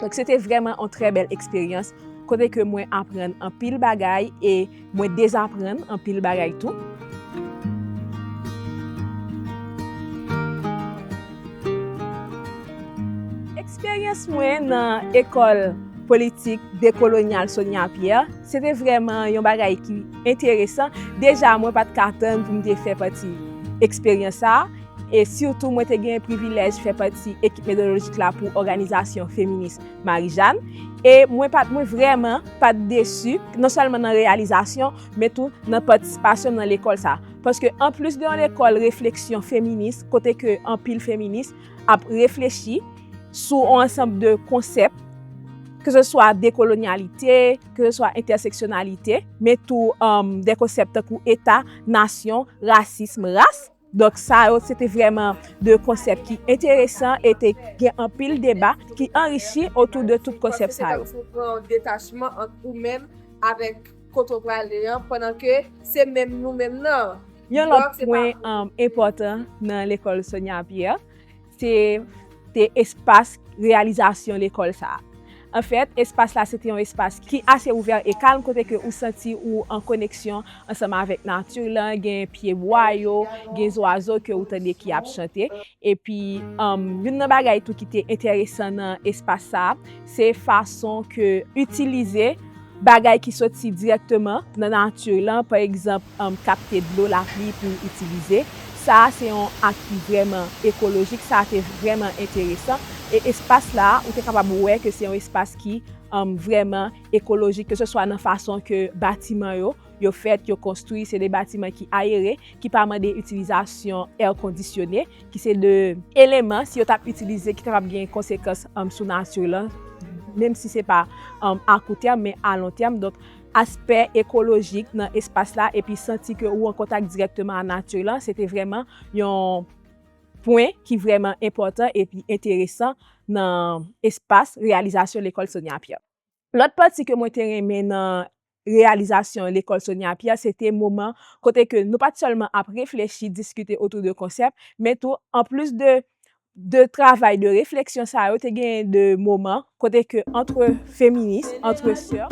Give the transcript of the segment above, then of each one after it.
Donk se te vrèman yon trè bèl eksperyans kote ke mwen aprann anpil bagay e mwen dezaprann anpil bagay tou. Eksperyans mwen nan Ecole Politique Décoloniale Sonia Pierre se te vrèman yon bagay ki enteresan. Deja mwen pa t ka tann pou m te fè pati eksperyans sa a. E sitou mwen te gen privilèj fè pati ekip metodolojik la pou òganizasyon feminis Marijàn. E mwen pa t mwen vrèman pa t desi non sèlman nan reyalizasyon men tou nan patisipasyon m nan lekòl sa. Paske anplis de yon lekòl refleksyon feminis kote ke anpil feminis ap reflechi sou yon ansanb de konsèp ke se swa dekolonyalite, ke se swa entèseksyonalite men tou de konsèp tankou eta, nasyon, rasism, ras. Donk sa yo se te vrèman 2 konsèp ki enteresan e te gen anpil deba ki anrichi otou de tout konsèp sa yo. Mwen panse se kòmsi ou pran yon detachman ant ou menm avèk kote w prale an pandan ke se menm nou menm nan. Yon lòt pwen enpòtan nan lekòl Sonya Pierre Se te espas reyalizasyon lekòl sa a. An fèt, espas la se te yon espas ki ase ouvè e kalm kote ke ou santi ou an koneksyon ansanm avèk nati lan, gen pye bwa yo, gen zwazo ke ou tande ki ap chante. Epi, youn nan bagay tou ki te enteresan nan espas sa a, se fason ke itilize. Bagay ki soti dirèkteman nan nati lan, pa egzanp, kapte dlo lapli pou itilize, sa a se yon ak ki vrèman ekolojik, sa a te vrèman enteresan e espas la a ou te kapab wè ke se yon espas ki vrèman ekolojik ke se swa nan fason ke batiman yo, yo fèt, yo konstwi, se de batiman ki ayere, ki pa mande itilizasyon èr kondisyone. ki se 2 eleman si yo tap itilize ki kapab gen konsekans sou nature lan menm si se pa a kou tèm men a lon tèm donk aspè ekolojik nan espas la epi santi ke ou an kontak dirèkteman a nature lan se te vrèman yon pwen ki vrèman enpòtan epi enteresan nan espas reyalizasyon lekòl Sonia Pierre. Lòt pati ke mwen te renmen nan reyalizasyon Lekòl Sonia Pierre se te moman kote ke nou pa t sèlman ap reflechi, diskite otou de konsèp, men tou an plis de de travay de refleksyon sa yo te genyen de moman kote ke antre feminis, antre sè.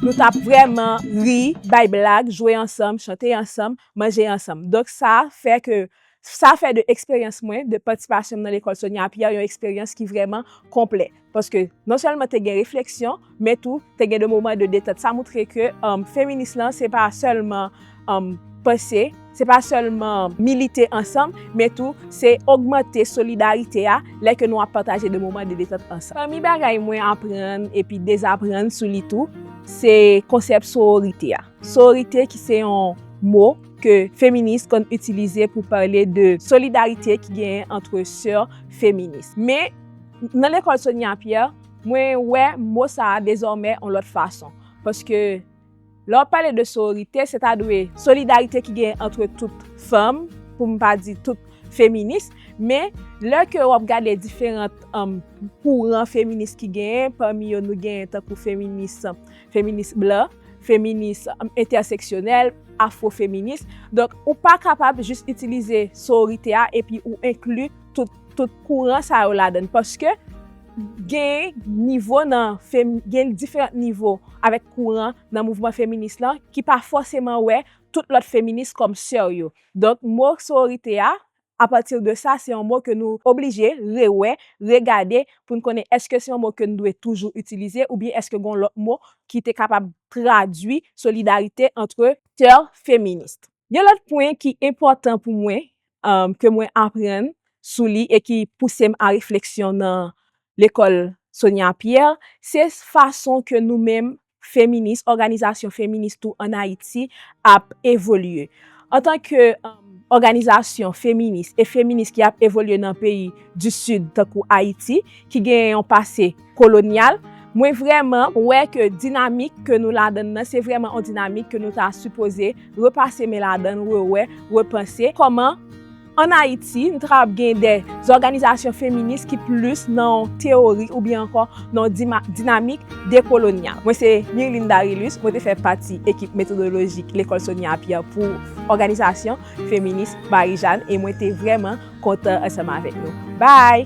Nou t ap vrèman ri, bay blag, jwe ansanm, chante ansanm, manje ansanm. Donk sa fè ke sa fè de eksperyans mwen, de patisipasyonm nan lekòl Sonia Pierre yon eksperyans ki vrèman konplè. Paske non sèlman te gen refleksyon, men tou te gen de moman de detant. Sa moutre ke feminis lan se pa sèlman. panse, se pa sèlman milite ansanm, men tou se ogmante solidarite a lè ke nou ap pataje de moman de detant ansanm. Pami bagay mwen aprann epi dezaprann sou li tou, se konsèp sororite a. Sororite ki se yon mo ke feminis konn itilize pou pale de solidarite ki genyen antre sè feminis. Men, nan lekòl Sonia Pierre, mwen wè mo sa a dezòmè yon lòt fason. Paske. Lè w ap pale de sororite, se ta dwe solidarite ki genyen antre tout fanm, pou m pa di tout feminis, men lè ke w ap gade diferant kouran feminis ki genyen, pami yo nou genyen tankou feminis, feminis blan, feminis entèseksyonèl, afwofeminis, donk ou pa kapab jis itilize sororite a epi ou enkli tout. tout kouran sa yo ladann paske gen nivo nan gen diferant nivo avèk kouran nan mouvman feminis lan ki pa fòseman wè tout lòt feminis kòm sè yo donk mo sororite a apati de sa se yon mo ke nou oblije rewè regade pou n konnen èske se yon mo ke n dwe toujou itilize oubyen èske gon lòt mo ki te kapab tradui solidarite antre sè feminis. Yon lòt pwen ki enpòtan pou mwen ke mwen aprann sou li e ki pouse m a refleksyon nan lekòl Sonia Pierre, se fason ke nou menm feminis, òganizasyon feminis tou an Ayiti ap evolye. Antan ke òganizasyon feminis e feminis ki ap evolye nan peyi di Sid tankou Ayiti ki gen yon pase, kolonyal, mwen vrèman wè ke dinamik ke nou ladann nan se vrèman yon dinamik ke nou ta sipoze repase men ladann, rewè, repanse kòman an Ayiti nou ta kapab gen de zòganizasyon feminis ki plis nan yon teyori oubyen ankò nan yon dinamik dekolonyal. Mwen se Mirline Darilus, mwen te fè pati ekip metodolojik Lekòl Sonia Pierre pou òganizasyon feminis Marijàn e mwen te vrèman kontan ansanm avèk nou. Bye!